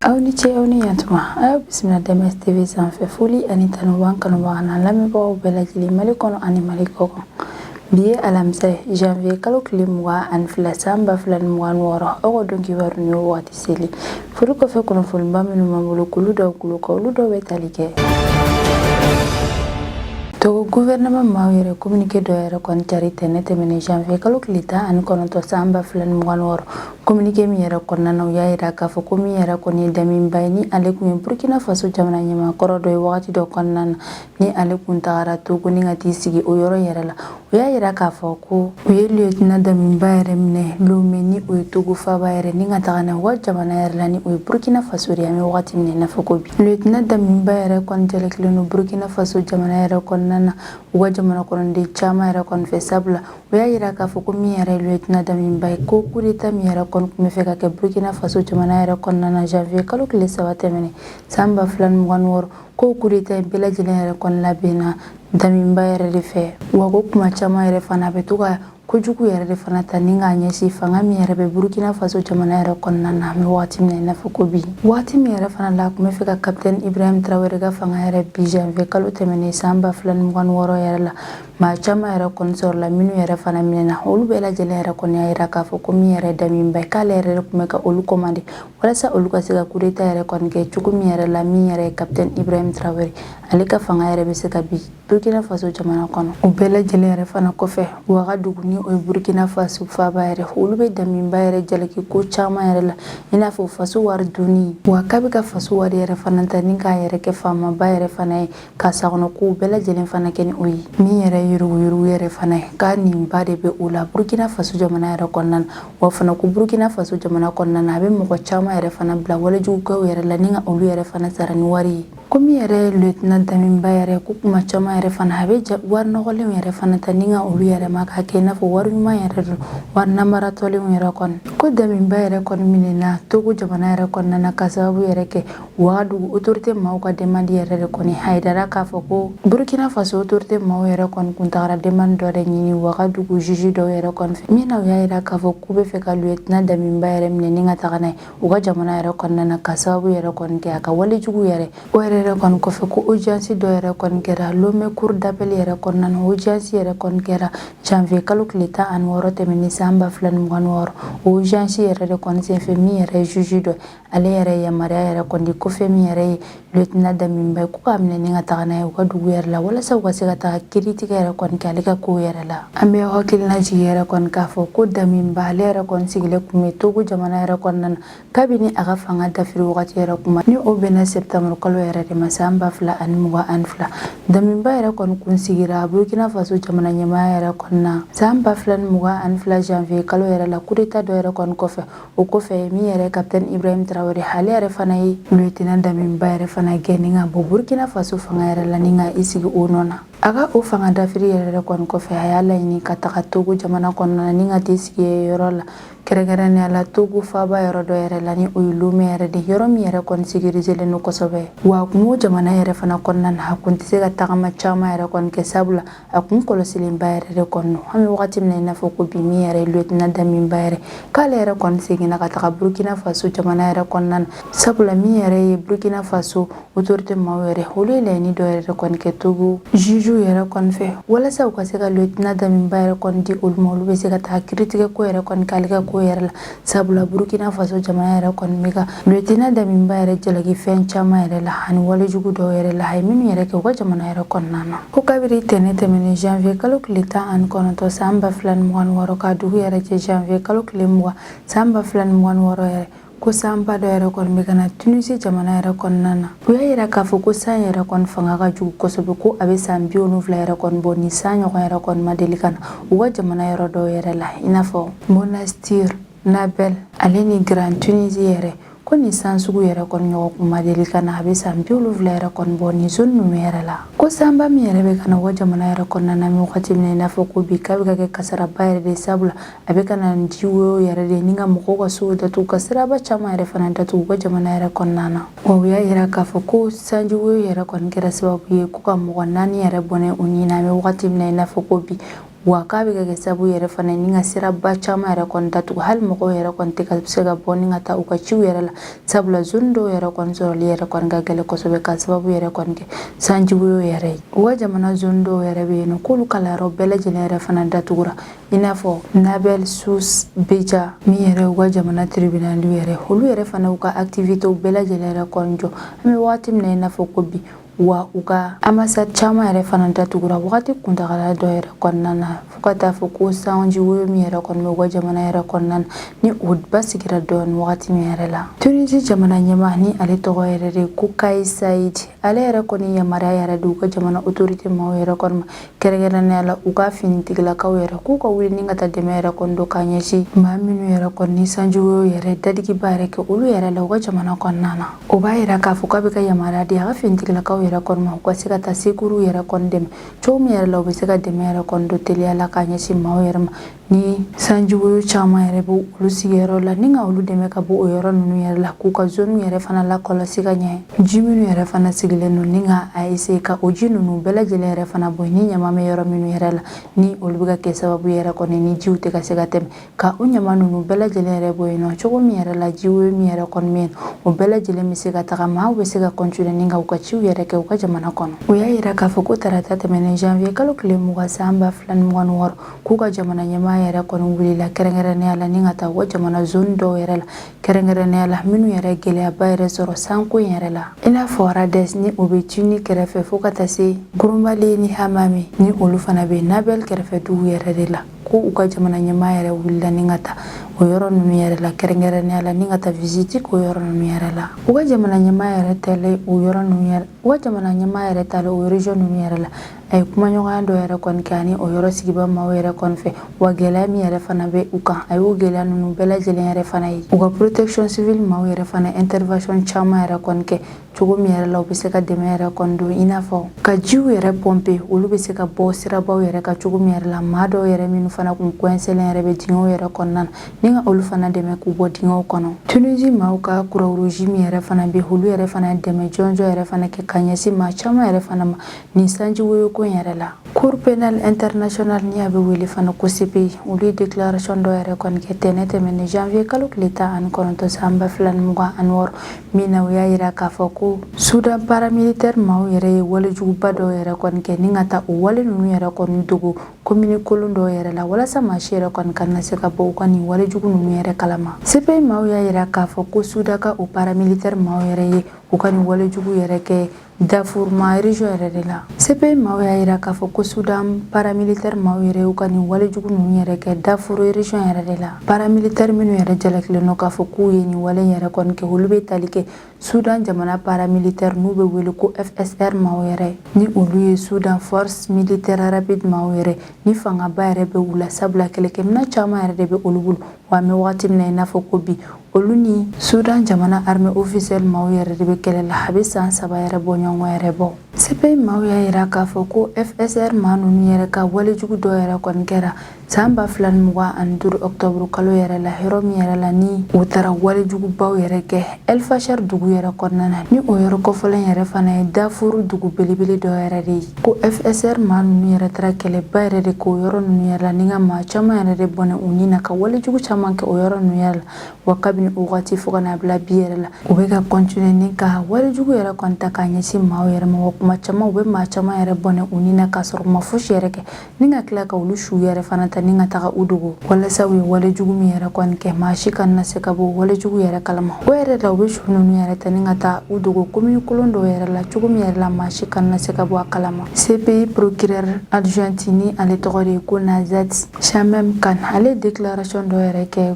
aw ni ce aw ni yantuma a y'aw bisimila dms tv sanfɛ foli ani tanu b'an kanubaga n'an lamɛnbagaw bɛɛ lajɛlen mali kɔnɔ ani mali kɔ kan bi ye alamisa ye janvier kalo tile mugan ani fila san ba fila ni mugan ni wɔɔrɔ aw ka don kibaru ni wagati seli furu kɔfɛ kunnafoniba minnu b'an bolo k'olu d'aw tulo kan olu dɔw bɛ tali kɛ togo guvɛrɛnɛman maaw yɛrɛ kominike dɔ yɛrɛ kɔni cari tɛnɛ tɛmɛnen janvier kalo tile tan ani kɔnɔntɔ san ba fila ni mugan wɔɔrɔ kominike min yɛrɛ kɔnɔna na u y'a yira k'a fɔ ko min yɛrɛ kɔni ye damiba ye ni ale kun ye burkina faso jamana ɲɛmaa kɔrɔ dɔ ye wagati dɔ kɔnɔna na ni ale kun tagara togo ni ka t'i sigi o yɔrɔ yɛrɛ la u y'a yira k'a fɔ ko u ye lieutenant damiba yɛrɛ minɛ lome ni o ye togo faba yɛrɛ ni ka taga n'a u ka jamana yɛrɛ la ni o ye burkina faso de an bɛ wagati min na i n'a fɔ ko bi lieutenant damiba yɛrɛ kɔni jalakilen don burkina faso jamana yɛrɛ kɔnɔna na u ka jamana kɔnɔden caman yɛrɛ kɔni fɛ sabula u y'a yira k'a fɔ ko min yɛrɛ lieutenant damiba ye ko kudeta min yɛrɛ kɔni tun bɛ fɛ ka kɛ burkina faso jamana yɛrɛ kɔnɔna na janvier kalo tile saba tɛmɛnen san ba fila ni mugan ni wɔɔrɔ ko kudeta in bɛɛ lajɛlen yɛrɛ kɔni labɛnna damiba yɛrɛ de fɛ wa ko kuma caman yɛrɛ fana a bɛ to ka kojugu yɛrɛ de fana ta ni k'a ɲɛsin fanga min yɛrɛ bɛ burkina faso jamana yɛrɛ kɔnɔna na an bɛ wagati min na i n'a fɔ ko bi wagati min yɛrɛ fana la a tun bɛ fɛ ka kapitɛni ibrahim tarawele ka fanga yɛrɛ bin janvier kalo tɛmɛnen san ba fila ni mugan ni wɔɔrɔ yɛrɛ la maa caman yɛrɛ kɔni sɔrɔla minnu yɛrɛ fana minɛna olu bɛɛ lajɛlen yɛrɛ kɔni y'a yira k'a fɔ ko min yɛrɛ damiba ye k'ale yɛrɛ de tun bɛ ka olu kɔmande walasa olu ka se ka kudeta yɛrɛ kɔni kɛ cogo min yɛrɛ la min yɛrɛ ye kapitɛn ibrahim tarawele ale ka fanga yɛrɛ bɛ se ka bin burkina faso jamana kɔnɔ o bɛɛ lajɛlen yɛrɛ fana kɔfɛ wagadugu ni o ye burkina faso faba yɛrɛ olu bɛ damiba yɛrɛ jalaki ko caman yɛrɛ la i n'a fɔ faso wari dunni wa k'a bɛ ka faso wari yɛrɛ fana ta ni k'a yɛrɛ kɛ faamaba yɛrɛ fana ye ka sagona kow bɛɛ lajɛlen fana kɛ ni o ye min yɛrɛ yuruguyurugu yɛrɛ fana ye k'a nin ba de bɛ o la burkina faso jamana yɛrɛ kɔnɔna na wa fana ko burkina faso jamana kɔnɔna na a bɛ mɔgɔ caman yɛrɛ fana bila walejugukɛw yɛrɛ la ni ka olu yɛrɛ fana sara ni wari ye ko min yɛrɛ ye lieutenant damiba yɛrɛ ko kuma caman yɛrɛ fana a bɛ wari nɔgɔlenw yɛrɛ fana ta ni ka olu yɛlɛma k'a kɛ i n'a fɔ wari ɲuman yɛrɛ don wari namaratɔlenw yɛrɛ kɔni ko damiba yɛrɛ kɔni minɛna togo jamana yɛrɛ kɔnɔna na ka sababu yɛrɛ kɛ wagadugu otorite maaw ka demandi yɛrɛ de kɔni a yirara k'a fɔ ko burkina faso otorite maaw yɛrɛ kɔni kun tagara demandi dɔ de ɲini wagadugu juji dɔw yɛrɛ kɔni fɛ min na u y'a yira k'a fɔ k'u bɛ fɛ ka lieutenant damiba yɛrɛ minɛ ni ka taga n'a ye u ka jamana yɛrɛ kɔnɔna na ka sababu yɛrɛ kɔni kɛ a ka walejugu yɛrɛ o yɛrɛ yɛrɛ kɔni kɔfɛ ko ojansi dɔ yɛrɛ kɔni kɛra lome cour d'appel yɛrɛ kɔnɔna na ojansi yɛrɛ kɔni kɛra janvier kalo tile tan ani wɔɔrɔ tɛmɛnen san ba fila ni mugan ni wɔɔrɔ o ojansi yɛrɛ de kɔni senfɛ min yɛrɛ juji dɔ ale yɛrɛ yamaruya yɛrɛ kɔni di ko fɛn min yɛrɛ ye lieutenant Damiba ye k'u k'a minɛ ni ka taga n'a ye u ka dugu yɛrɛ la walasa u ka se ka taga kiritigɛ yɛrɛ kɔni kɛ ale ka kow yɛrɛ la an bɛ hakilina jigi yɛrɛ kɔni k'a fɔ ko Damiba ale yɛrɛ kɔni sigilen kun bɛ Togo jamana yɛrɛ kɔnɔna na kabini a ka fanga dafiri wagati yɛrɛ kuma ni o bɛnna septembre kalo yɛrɛ de ma san ba fila ani mugan ani fila Damiba yɛrɛ kɔni kun sigira Burkina Faso jamana ɲɛmaaya yɛrɛ kɔnɔna san ba fila ni mugan ani fila janvier kalo yɛrɛ la kudeta dɔ yɛrɛ kɔni kɔfɛ o kɔfɛ min yɛrɛ kapitɛni ibrahim tarawele ale yɛrɛ fana ye lieutenant damiba yɛrɛ fana gɛn ni ka bɔ burkina faso fanga yɛrɛ la ni ka i sigi o nɔ na a ka o fanga dafiri yɛrɛ yɛrɛ kɔni kɔfɛ a y'a laɲini ka taga togo jamana kɔnɔna na ni ka t'i sigi yɔrɔ la kɛrɛnkɛrɛnnenya la togo faaba yɔrɔ dɔ yɛrɛ la ni o ye lome yɛrɛ de yɔrɔ min yɛrɛ kɔni sekirizelen don kosɛbɛ wa togo jamana yɛrɛ fana kɔnɔna na a kun tɛ se ka tagama caman yɛrɛ kɔni kɛ sabula a kun kɔlɔsilenba yɛrɛ de kɔni don an bɛ wagati min na i n'a fɔ ko bi min yɛrɛ ye lieutenant damiba yɛrɛ k'ale yɛrɛ kɔni seginna ka taga burkina faso jamana yɛrɛ kɔnɔna na sabula min yɛrɛ ye burkina faso autorité maaw yɛrɛ olu ye laɲini dɔ yɛrɛ de kɔni kɛ togo jugew yɛrɛ kɔni fɛ walasa u ka se ka lieutenant damiba yɛrɛ kɔni di olu ma olu bɛ se ka taa kiritigɛ ko yɛrɛ kɔni k'ale ka ko yɛrɛ la sabula burkina faso jamana yɛrɛ kɔni bɛ ka lieutenant damiba yɛrɛ jalaki fɛn caman yɛrɛ la ani walejugu dɔw yɛrɛ la a ye minnu yɛrɛ kɛ u ka jamana yɛrɛ kɔnɔna na ko kabiri ntɛnɛn tɛmɛnen janvier kalo tile tan ani kɔnɔntɔn san ba fila ni mugan ni wɔɔrɔ ka dugu yɛrɛ jɛ janvier kalo tile mugan san ba fila ni mugan ni wɔɔrɔ yɛrɛ ko sanba dɔ yɛrɛ kɔni bɛ ka na tunisi jamana yɛrɛ kɔnɔna na u y'a yira k'a fɔ ko san yɛrɛ kɔni fanga ka jugu kosɛbɛ ko a bɛ san bi wolonwula yɛrɛ kɔni bɔ nin san ɲɔgɔn yɛrɛ kɔni ma deli ka na u ka jamana yɔrɔ dɔw yɛrɛ la i n'a fɔ monastir nabɛl ale ni grand tunisi yɛrɛ ko nin san sugu yɛrɛ kɔni ɲɔgɔn kun ma deli ka na a bɛ san bi wolonwula yɛrɛ kɔni bɔ nin zone ninnu yɛrɛ la ko sanba min yɛrɛ bɛ ka na u ka jamana yɛrɛ kɔnɔna na an bɛ wagati min na i n'a fɔ ko bi k'a bɛ ka kɛ kasaraba yɛrɛ de sabula a bɛ ka na ni jiwoyo yɛrɛ de ni ka mɔgɔw ka sow datugu ka siraba caman yɛrɛ fana datugu u ka jamana yɛrɛ kɔnɔna na Wa u y'a yira k'a fɔ ko sanjiwoyo yɛrɛ kɔni kɛra sababu ye ko ka mɔgɔ naani yɛrɛ bɔnɛ u ni na an bɛ wagati min na i n'a fɔ ko bi wa k'a bɛ ka kɛ sababu yɛrɛ fana ni ka siraba caman yɛrɛ kɔni datugu hali mɔgɔw yɛrɛ kɔni tɛ ka se ka bɔ ni ka taa u ka ciw yɛrɛ la sabula zone dɔw yɛrɛ kɔni sɔrɔli yɛrɛ kɔni ka gɛlɛn kosɛbɛ ka sababu yɛrɛ kɔni kɛ sanjiwoyo yɛrɛ ye wa jamana zone dɔw yɛrɛ bɛ yen k'olu kalanyɔrɔ bɛɛ lajɛlen yɛrɛ fana datugura i n'a fɔ nabɛl sus beja min yɛrɛ u ka jamana tribinali yɛrɛ olu yɛrɛ fana u ka aktivitew bɛɛ lajɛlen yɛrɛ kɔni jɔ an bɛ wagati min na i n'a fɔ ko bi wa u ka ambasadi caman yɛrɛ fana datugura wagati kuntagala dɔ yɛrɛ kɔnɔna na fo ka taa fɔ ko sanjiwoyo min yɛrɛ kɔni bɛ u ka jamana yɛrɛ kɔnɔna na ni o basigira dɔɔni wagati min yɛrɛ la tunisi jamana ɲɛmaa ni ale tɔgɔ yɛrɛ de ko kayisi sayidi ale yɛrɛ kɔni yamaruya yɛrɛ di u ka jamana otorite maaw yɛrɛ kɔni ma kɛrɛnkɛrɛnnenya la u ka finitigilakaw yɛrɛ k'u ka wuli ni ka taa dɛmɛ yɛrɛ kɔni don k'a ɲɛsin maa minnu yɛrɛ kɔni ni sanjiwoyo yɛrɛ dadigiba yɛrɛ kɛ olu yɛrɛ la u ka jamana kɔnɔna na o b'a yira k'a fɔ k'a bɛ ka yamaruya di a ka finitigilakaw yɛrɛ kɔni ma u ka se ka taa secours yɛrɛ kɔni dɛmɛ cogo min yɛrɛ la u bɛ se ka dɛmɛ yɛrɛ kɔni don teliya la k'a ɲɛsin maaw yɛrɛ ma ni sanji woyo caman yɛrɛ bɛ olu sigiyɔrɔ la ni ka olu dɛmɛ ka bɔ o yɔrɔ ninnu yɛrɛ la k'u ka zoniw yɛrɛ fana lakɔlɔsi ka ɲɛ ji minnu yɛrɛ fana sigilen don ni ka a essayer ka o ji ninnu bɛɛ lajɛlen yɛrɛ fana bɔ ni ɲama bɛ yɔrɔ minnu yɛrɛ la ni olu bɛ ka kɛ sababu yɛrɛ kɔni ni jiw tɛ ka se ka tɛmɛ ka o ɲama ninnu bɛɛ lajɛlen yɛrɛ bɔ yen nɔ cogo min yɛrɛ la ji woyo min yɛrɛ kɔni bɛ yen o bɛɛ lajɛlen bɛ se ka taga maaw bɛ se ka continuer ni ka u ka ciw yɛrɛ kɛ u ka jamana kɔnɔ o y'a yira k'a fɔ ko tarata tɛmɛnen janvier kalo tile mugan san ba fila ni mugan ni wɔɔrɔ k'u ka jamana ɲɛmaa yɛrɛ kɔni wulila kɛrɛnkɛrɛnnenya la ni ka taa u ka jamana zone dɔw yɛrɛ la kɛrɛnkɛrɛnnenya la minnu yɛrɛ gɛlɛyaba yɛrɛ sɔrɔ sanko in yɛrɛ la i n'a fɔ rades ni o bɛ tunis kɛrɛfɛ fo ka taa se grombalia ni hammamet ni olu fana bɛ nabeul kɛrɛfɛ dugu yɛrɛ de la ko u ka jamana ɲɛmaa yɛrɛ wulila ni ka taa o yɔrɔ ninnu yɛrɛ la kɛrɛnkɛrɛnnenya la ni ka taa visite k'o yɔrɔ ninnu yɛrɛ la u ka jamana ɲɛmaa yɛrɛ taalen o yɔrɔ ninnu yɛrɛ u ka jamana ɲɛmaa yɛrɛ taalen o region ninnu yɛrɛ la a ye kumaɲɔgɔnya dɔ yɛrɛ kɔni kɛ ani o yɔrɔ sigibaa maaw yɛrɛ kɔni fɛ wa gɛlɛya min yɛrɛ fana bɛ u kan a y'o gɛlɛya ninnu bɛɛ lajɛlen yɛrɛ fana ye u ka protection civile maaw yɛrɛ fana intervention caman yɛrɛ kɔni kɛ cogo min yɛrɛ la u bɛ se ka dɛmɛ yɛrɛ kɔni don i n'a fɔ ka jiw yɛrɛ pomper olu bɛ se ka bɔ sirabaw yɛrɛ kan cogo min yɛrɛ la maa dɔw yɛrɛ minnu fana tun coincélen yɛrɛ bɛ dingɛw yɛrɛ kɔnɔna na ni ka olu fana dɛmɛ k'u bɔ dingɛw kɔnɔ tunisie maaw ka croix rouge min yɛrɛ fana bɛ olu yɛrɛ fana dɛmɛ jɔnjɔn yɛrɛ fana kɛ ka ɲɛsin maa caman yɛrɛ fana ma nin sanji woyoko in yɛrɛ la cour penale internationale ni a bɛ wele fana ko cpi olu ye declaration dɔ yɛrɛ kɔni kɛ tɛnɛn tɛmɛnen janvier kalo tile tan ani kɔnɔntɔn san ba fila ni mugan ani wɔɔrɔ min na u y'a yira k'a fɔ ko sudan paramilitaire maaw yɛrɛ ye walejuguba dɔw yɛrɛ kɔni kɛ ni ka taa o wale ninnu yɛrɛ kɔni dogo commune kɔlɔn dɔw yɛrɛ la walasa maa si yɛrɛ kɔni kana se ka bɔ u ka nin walejugu ninnu yɛrɛ kalama cpi maaw y'a yira k'a fɔ ko sudan ka o paramilitaire maaw yɛrɛ ye u ka nin walejugu yɛrɛ kɛ Darfour ma region yɛrɛ de la CPI maaw y'a yira k'a fɔ ko Sudan paramilitaire maaw yɛrɛ y'u ka nin walejugu ninnu yɛrɛ kɛ Darfour region yɛrɛ de la paramilitaire minnu yɛrɛ jalakilen don k'a fɔ k'u ye nin wale in yɛrɛ kɔni kɛ olu bɛ tali kɛ Sudan jamana paramilitaire n'u bɛ wele ko FSR maaw yɛrɛ ni olu ye Sudan force militaire rapide maaw yɛrɛ ni fangaba yɛrɛ bɛ u la sabula kɛlɛkɛminɛn caman yɛrɛ de bɛ olu bolo wa an bɛ wagati min na i n'a fɔ ko bi olu ni sudan jamana armée officielle maaw yɛrɛ de bɛ kɛlɛ la a bɛ san saba yɛrɛ bɔ ɲɔgɔn yɛrɛ bɔ cpi maaw y'a yira k'a fɔ ko fsr maa ninnu yɛrɛ ka walejugu dɔ yɛrɛ kɔni kɛra san ba fila ni mugan ani duru ɔktɔburu kalo yɛrɛ la yɔrɔ min yɛrɛ la ni u taara walejugubaw yɛrɛ kɛ Elfashar dugu yɛrɛ kɔnɔna na ni o yɔrɔ kɔfɔlen yɛrɛ fana ye Darfur dugu belebele dɔ yɛrɛ de ye ko FSR maa ninnu yɛrɛ taara kɛlɛba yɛrɛ de k'o yɔrɔ ninnu yɛrɛ la ni ka maa caman yɛrɛ de bɔnɛ u ni na ka wale jugu caman kɛ o yɔrɔ ninnu yɛrɛ la wa kabini o wagati fo ka n'a bila bi yɛrɛ la u bɛ ka kɔntine ni ka wale jugu yɛrɛ kɔni ta k'a ɲɛsin maaw yɛrɛ ma wa tuma caman u bɛ maa caman yɛrɛ bɔnɛ u ni na k'a sɔrɔ u ma fosi yɛrɛ kɛ ni ka tila ka olu su yɛrɛ fana ta ni ka taga u dogo walasa u ye wale jugu min yɛrɛ kɔni kɛ maa si kana se ka bɔ wale jugu yɛrɛ kalama o yɛrɛ la u bɛ su ninnu yɛrɛ ta ni ka taa u dogo komini kolon dɔw yɛrɛ la cogo min yɛrɛ la maa si kana se ka bɔ a kalama cpi procureur adjoint ni ale tɔgɔ de ye ko nazhat shameem khan ale ye declaration dɔ yɛrɛ kɛ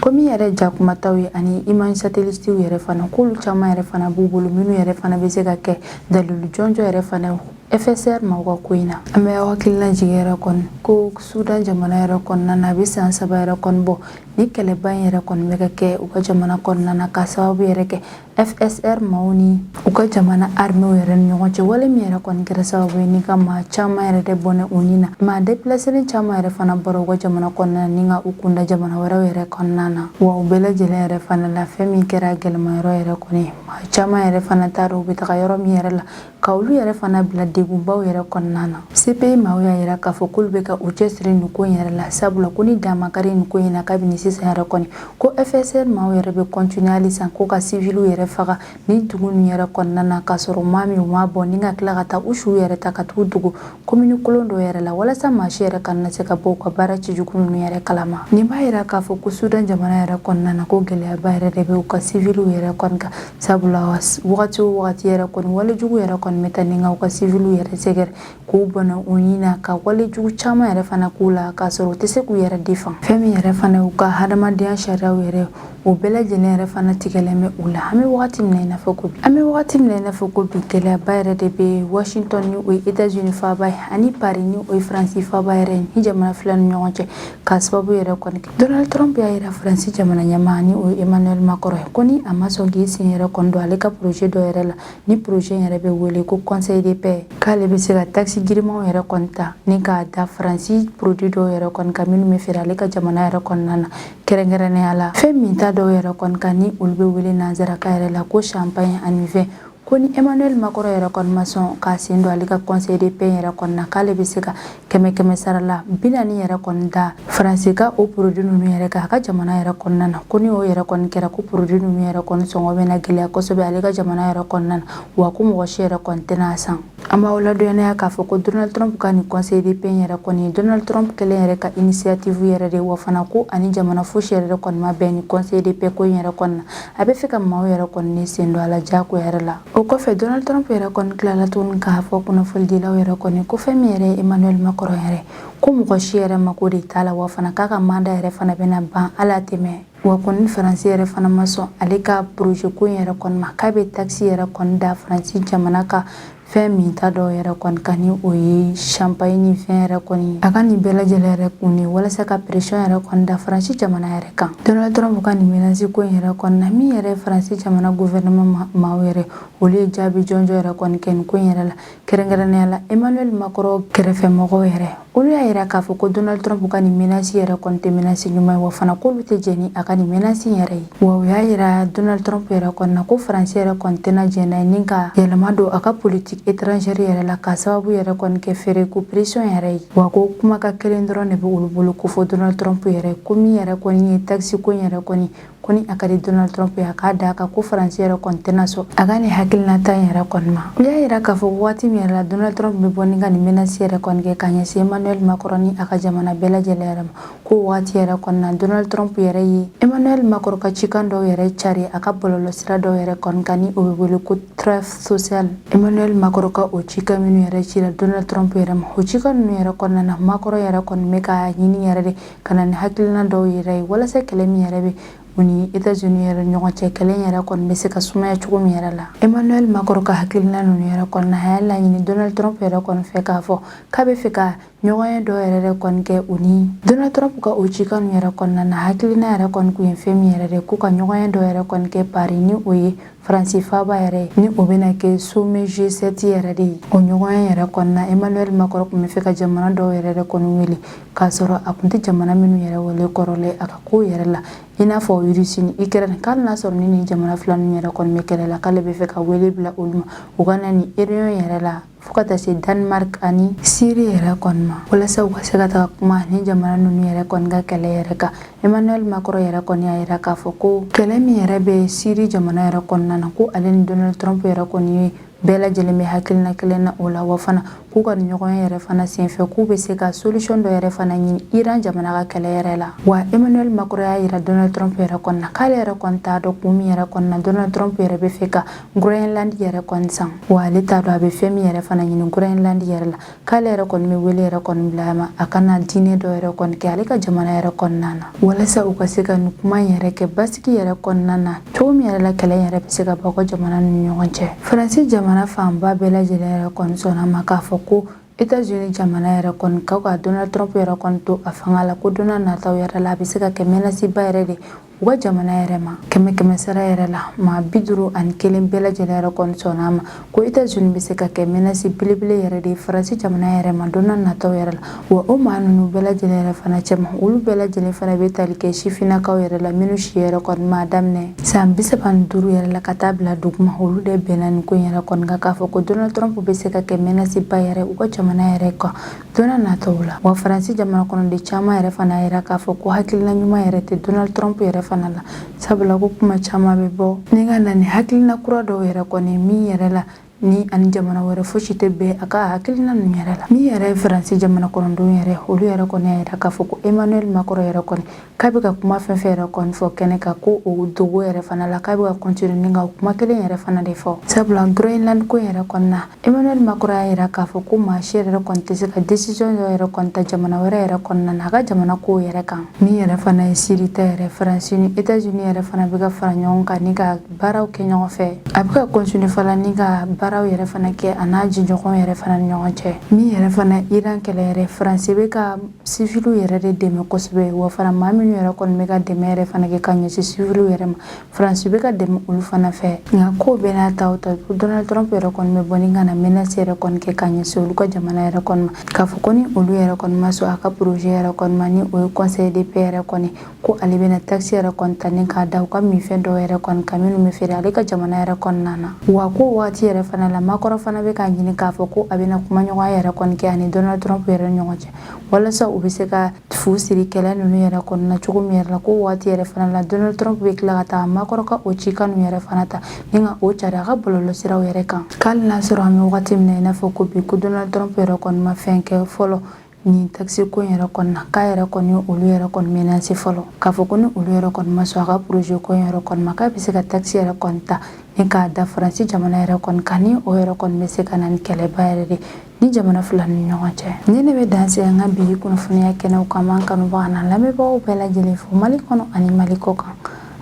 komi yɛrɛ jakumataw ye ani image satelitiw yɛrɛ fana k'olu caman yɛrɛ fana b'u bolo minnu yɛrɛ fana bɛ se ka kɛ dalilu jɔnjɔn yɛrɛ fana fsr maaw ka ko in na an b'aw hakili lajigin yɛrɛ kɔni ko sudan jamana yɛrɛ kɔnɔna na a bɛ san saba yɛrɛ kɔni bɔ ni kɛlɛba in yɛrɛ kɔni bɛ ka kɛ u ka jamana kɔnɔna na ka sababu yɛrɛ kɛ FSR maaw ni u ka jamana arme yɛrɛ ni ɲɔgɔn cɛ wale min yɛrɛ kɔni kɛra sababu ye ni ka maa caman yɛrɛ de bɔnɛ u ni na maa depilaselen caman yɛrɛ fana bɔra u ka jamana kɔnɔna ni ka u kunda jamana wɛrɛw yɛrɛ kɔnɔna na wa u bɛɛ lajɛlen yɛrɛ fana la fɛn min kɛra gɛlɛmayɔrɔ yɛrɛ kɔni maa caman yɛrɛ fana t'a dɔn u bɛ taga yɔrɔ min yɛrɛ la ka olu yɛrɛ fana bila degunbaw yɛrɛ kɔnɔna na cpi maaw y'a yira k'a fɔ k'olu bɛ ka u cɛsiri nin ko in yɛrɛ la sabula ko ni dan ma kari nin ko in na kabini sisan yɛrɛ kɔni ko fsr maaw yɛrɛ bɛ kɔntiniye halisa ko ka siviliw yɛrɛ faga nin dugu nin yɛrɛ kɔnɔna na k'a sɔrɔ u m'a min u m'a bɔn ni ka tila ka taa u suw yɛrɛ ta ka taga u dogo komini kolon dɔ yɛrɛ la walasa maa si yɛrɛ kana se ka bɔ u ka baara cɛjugu ninnu yɛrɛ kalama nin b'a yira k'a fɔ ko sudan jamana yɛrɛ kɔnɔna na ko gɛlɛyaba yɛrɛ de bɛ u ka siviliw yɛrɛ kɔni kan sabula wagati o wagati yɛrɛ kɔni walejugu yɛrɛ kɔni bɛ ta ni ka u ka siviliw yɛrɛ sɛgɛrɛ k'u bɔnɛ u ni na ka walejugu caman yɛrɛ fana k'u la k'a sɔrɔ u tɛ se k'u yɛrɛ defan fɛn min yɛrɛ fana u ka hadamadenya sariyaw yɛrɛ o bɛɛ lajɛlen yɛrɛ fana tigɛlen bɛ u la an bɛ wagati min na i n'a fɔ ko bi an bɛ wagati min na i n'a fɔ ko bi gɛlɛyaba yɛrɛ de bɛ washington ni o ye etats unis faaba ye ani paris ni o ye faransi faaba yɛrɛ ye ni jamana fila ni ɲɔgɔn cɛ k'a sababu yɛrɛ kɔni kɛ donald trump y'a yira faransi jamana ɲɛmaa ni o ye emmanuel macron ye ko ni a ma sɔn k'i sen yɛrɛ kɔni don ale ka projet dɔ yɛrɛ la ni projet yɛrɛ bɛ wele ko conseil de paix k'ale bɛ se ka taxe girimanw yɛrɛ kɔni ta ni k'a da faransi produit dɔw yɛrɛ kɔni kan minnu bɛ feere ale ka jamana yɛrɛ kɔnɔna na kɛrɛnkɛrɛnnenya la fɛn minta dɔw yɛrɛ kɔni kan ni olu bɛ wele nansarakan yɛrɛ la ko champagne ani vin ko ni emmanuel macron yɛrɛ kɔni ma sɔn k'a sen don ale ka conseil de paix yɛrɛ kɔni na k'ale bɛ se ka kɛmɛ kɛmɛ sara la bi naani yɛrɛ kɔni da faransi ka o produit ninnu yɛrɛ kan a ka jamana yɛrɛ kɔnɔna na ko ni o yɛrɛ kɔni kɛra ko produit ninnu yɛrɛ kɔni sɔngɔ bɛna gɛlɛya kosɛbɛ ale ka jamana yɛrɛ kɔnɔna na wa ko mɔgɔ si yɛrɛ kɔni tɛna a san An b'aw ladɔnniya k'a fɔ ko Donald Trump ka nin conseil de paix in yɛrɛ kɔni, Donald Trump kelen yɛrɛ ka initiative yɛrɛ de ye, wa fana ko a ni jamana fosi yɛrɛ de kɔni ma bɛn nin conseil de paix ko in yɛrɛ kɔni na. A bɛ fɛ ka maaw yɛrɛ kɔni de sen don a la jagoya yɛrɛ la. O kɔfɛ, Donald Trump yɛrɛ kɔni tilala tuguni k'a fɔ kunnafonidilaw yɛrɛ kɔni ko fɛn min yɛrɛ ye Emmanuel Macron yɛrɛ, ko mɔgɔ si yɛrɛ mako de t'a la, wa fana k'a ka mandat yɛrɛ fana bɛna ban hali a tɛ mɛɛn. Wa ko ni Faransi yɛrɛ fana ma sɔn ale ka projet ko in yɛrɛ kɔni ma k'a bɛ taxe yɛrɛ kɔni da Faransi jamana ka fɛn minta dɔw yɛrɛ kɔni kan ni o ye champagne ni vin yɛrɛ kɔni a ka nin bɛɛ lajɛlen yɛrɛ kun ye walasa ka pression yɛrɛ kɔni da Faransi jamana yɛrɛ kan Donald Trump ka nin menace ko in yɛrɛ kɔni na min yɛrɛ Faransi jamana gouvernement maaw yɛrɛ olu ye jaabi jɔnjɔn yɛrɛ kɔni kɛ nin ko in yɛrɛ la kɛrɛnkɛrɛnnenya la emmanuel macron kɛrɛfɛmɔgɔw yɛrɛ olu y'a yira k'a fɔ ko donald trump ka nin menasi yɛrɛ kɔni tɛ menasi ɲuman ye wa fana k'olu tɛ jɛn ni a ka nin menasi yɛrɛ ye wa u y'a yira donald trump yɛrɛ kɔni na ko faransi yɛrɛ kɔni tɛna jɛn n'a ye ni ka yɛlɛma don a ka politiki étrangère yɛrɛ la k'a sababu yɛrɛ kɔni kɛ feereko pression yɛrɛ ye wa ko kumakan kelen dɔrɔn de bɛ olu bolo k'o fɔ donald trump yɛrɛ ko min yɛrɛ kɔni ye taxe ko in yɛrɛ kɔni ko ni a ka di donald trump ye a k'a da kan ko faransi yɛrɛ kɔni tɛna sɔn a ka nin hakilinata in yɛrɛ kɔni ma u y'a yira k'a fɔ waati min yɛrɛ la donald trump bɛ bɔ ni ka nin menasi yɛrɛ kɔni kɛ ka ɲɛsin emmanuel macron ni a ka jamana bɛɛ lajɛlen yɛrɛ ma k'o waati yɛrɛ kɔni na donald trump yɛrɛ ye emmanuel macron ka cikan dɔw yɛrɛ cari a ka bɔlɔlɔsira dɔw yɛrɛ kɔni kan ni o bɛ wele ko truth social emmanuel macron ka o cikan minnu yɛrɛ cira donald trump yɛrɛ ma o cikan ninnu yɛrɛ kɔnɔna na macron yɛrɛ kɔni bɛ k'a ɲini yɛrɛ de ka na ni hakilina dɔw yɛrɛ ye walasa kɛlɛ min yɛrɛ bɛ u ni etats unis yɛrɛ ɲɔgɔn cɛ kɛlɛ yɛrɛ kɔni bɛ se ka sumaya cogo min yɛrɛ la emmanuel macron ka hakilina ninnu yɛrɛ kɔni na a y'a laɲini donald trump yɛrɛ kɔni fɛ k'a fɔ k'a bɛ fɛ ka ɲɔgɔnye dɔ yɛrɛ de kɔni kɛ u ni donald trump ka o cikan ninnu yɛrɛ kɔnɔna na hakilina yɛrɛ kɔni tun ye fɛn min yɛrɛ de k'u ka ɲɔgɔnye dɔ yɛrɛ kɔni kɛ paris ni o ye faransi faaba yɛrɛ ye ni o bɛna kɛ sommet g7 yɛrɛ de ye o ɲɔgɔnye yɛrɛ kɔnɔna emmanuel macron tun bɛ fɛ ka jamana dɔw yɛrɛ de kɔni wele k'a sɔrɔ a kun tɛ jamana minnu yɛrɛ wele kɔrɔlen a ka ko yɛrɛ la i n'a fɔ irisi ni ikɛrɛni k'ali n'a sɔrɔ ni nin jamana fila ninnu yɛrɛ kɔni bɛ kɛlɛ la k'ale bɛ fɛ ka wele bila olu ma u ka na nin réunion yɛrɛ la fo ka taa se danemark ani siri yɛrɛ kɔni ma walasa u ka se ka taga kuma nin jamana ninnu yɛrɛ kɔni ka kɛlɛ yɛrɛ kan emmanuel macron yɛrɛ kɔni y'a yira k'a fɔ ko kɛlɛ min yɛrɛ bɛ siri jamana yɛrɛ kɔnɔna na ko ale ni donald trump yɛrɛ kɔni ye bɛɛ lajɛlen bɛ hakilina kelen na o la wa fana k'u ka ɲɔgɔnye yɛrɛ fana senfɛ k'u bɛ se ka solution dɔ yɛrɛ fana ɲini Iran jamana ka kɛlɛ yɛrɛ la wa Emmanuel Macron y'a yira Donald Trump yɛrɛ kɔni na k'ale yɛrɛ kɔni t'a dɔn kun min yɛrɛ kɔni na Donald Trump yɛrɛ bɛ fɛ ka Groenland yɛrɛ kɔni san wa ale t'a dɔn a bɛ fɛn min yɛrɛ fana ɲini Groenland yɛrɛ la k'ale yɛrɛ kɔni bɛ wele yɛrɛ kɔni bila a ma a ka na dîner dɔ yɛrɛ kɔni kɛ ale ka jamana yɛrɛ kɔnɔna na walasa u ka se ka nin kuma in yɛrɛ kɛ basigi yɛrɛ kɔnɔna na cogo min yɛrɛ la kɛlɛ yɛrɛ bɛ se ka bɔ u ka jamana ni ɲɔgɔn cɛ faransi jamana fanba bɛɛ lajɛlen yɛrɛ kɔni sɔnna a ma k'a fɔ ko États-Unis jamana yɛrɛ kɔni ka ka Donald Trump yɛrɛ kɔni to a fanga la ko donna nataw yɛrɛ la a bɛ se ka kɛ menasiba yɛrɛ de u ka jamana yɛrɛ ma kɛmɛ kɛmɛ sara yɛrɛ la maa bi duuru ani kelen bɛɛ lajɛlen yɛrɛ kɔni sɔnna a ma ko etazuni bɛ se ka kɛ mɛnasi belebele yɛrɛ de ye faransi jamana yɛrɛ ma donna nataw yɛrɛ la wa o maa ninnu bɛɛ lajɛlen yɛrɛ fana cɛma olu bɛɛ lajɛlen fana bɛ tali kɛ sifinnakaw yɛrɛ la minnu si yɛrɛ kɔni b'a daminɛ san bi saba ni duuru yɛrɛ la ka taa bila duguma olu de bɛnna nin ko in yɛrɛ kɔni kan k'a fɔ ko donald trump bɛ se ka kɛ mɛnasiba yɛrɛ u ka jamana yɛrɛ kan Donna nataw la wa faransi jamana kɔnɔden caman yɛrɛ fana y'a yira k'a fɔ ko hakilina ɲuman yɛrɛ tɛ donald trump yɛrɛ fana la sabula ko kuma caman bɛ bɔ ni ka na ni hakilina kura dɔw yɛrɛ kɔni min yɛrɛ la ni ani jamana wɛrɛ fosi tɛ bɛn a ka hakilina ninnu yɛrɛ la min yɛrɛ ye faransi jamana kɔnɔdenw yɛrɛ olu yɛrɛ kɔni y'a yira k'a fɔ ko emmanuel macron yɛrɛ kɔni k'a bɛ ka kuma fɛn fɛn yɛrɛ kɔni fɔ kɛnɛ kan ko o dogo yɛrɛ fana la k'a bɛ ka continuer ni ka kuma kelen yɛrɛ fana de fɔ sabula groenland ko yɛrɛ kɔni na emmanuel macron y'a yira k'a fɔ ko maa si yɛrɛ kɔni tɛ se ka desisiyɔn dɔ yɛrɛ kɔni ta jamana wɛrɛ yɛrɛ kɔnɔna na a ka jamana kow yɛrɛ kan min yɛrɛ fana ye siri ta yɛrɛ faransi ni etats unis yɛrɛ fana bɛ ka fara ɲɔgɔn kan ni ka baaraw kɛ ɲɔgɔn fɛ a bɛ ka continuer fana ni ka baaraw yɛrɛ fana kɛ a n'a jɛɲɔgɔn yɛrɛ fana ni ɲɔgɔn cɛ min yɛrɛ fana iran kɛlɛ yɛrɛ faransi bɛ ka siviliw yɛrɛ de dɛmɛ kosɛbɛ wa fana maa minnu yɛrɛ kɔni bɛ ka dɛmɛ yɛrɛ fana kɛ ka ɲɛsin siviliw yɛrɛ ma faransi bɛ ka dɛmɛ olu fana fɛ nka k'o bɛɛ n'a ta o ta donald trump yɛrɛ kɔni bɛ bɔ ni ka na menasi yɛrɛ kɔni kɛ ka ɲɛsin olu ka jamana yɛrɛ kɔni ma k'a fɔ ko ni olu yɛrɛ kɔni ma sɔn a ka projet yɛrɛ kɔni ma ni o ye conseil de paix yɛrɛ kɔni ko ale bɛna taxe yɛrɛ kɔni ta ni k'a da u ka minfɛn dɔw yɛrɛ kɔni kan minnu bɛ feere ale ka jamana yɛrɛ kɔnɔna na wa k'o waati yɛrɛ fana la macron fana bɛ k'a ɲini k'a fɔ ko a bɛna kumaɲɔgɔnya yɛrɛ kɔni kɛ ani donald trump yɛrɛ ni ɲɔgɔn cɛ walasa u bɛ se ka fu siri kɛlɛ ninnu yɛrɛ kɔnɔna na cogo min yɛrɛ la k'o waati yɛrɛ fana la donald trump bɛ tila ka taa macron ka o cikan ninnu yɛrɛ fana ta ni ka o cari a ka bɔlɔlɔsiraw yɛrɛ kan k'ali n'a sɔrɔ an bɛ wagati min na i n'a fɔ ko bi ko donald trump yɛrɛ kɔni ma fɛn kɛ fɔlɔ nin takisi ko in yɛrɛ kɔni na k'a yɛrɛ kɔni ye olu yɛrɛ kɔni menase fɔlɔ k'a fɔ ko ni olu yɛrɛ kɔni ma sɔn a ka projet ko in yɛrɛ kɔni ma k'a bɛ se ka takisi yɛrɛ kɔni ta ni k'a da faransi jamana yɛrɛ kɔni kan ni o yɛrɛ kɔni bɛ se ka na ni kɛlɛba yɛrɛ de ni jamana fila ni ɲɔgɔn cɛ nin de bɛ dan se an ka bi kunnafoniya kɛnɛw kan n b'an kanubaga n'an lamɛnbagaw bɛɛ lajɛlen fo mali kɔnɔ ani mali kɔkan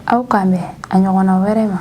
aw k'an bɛn a ɲɔgɔnna wɛrɛ ma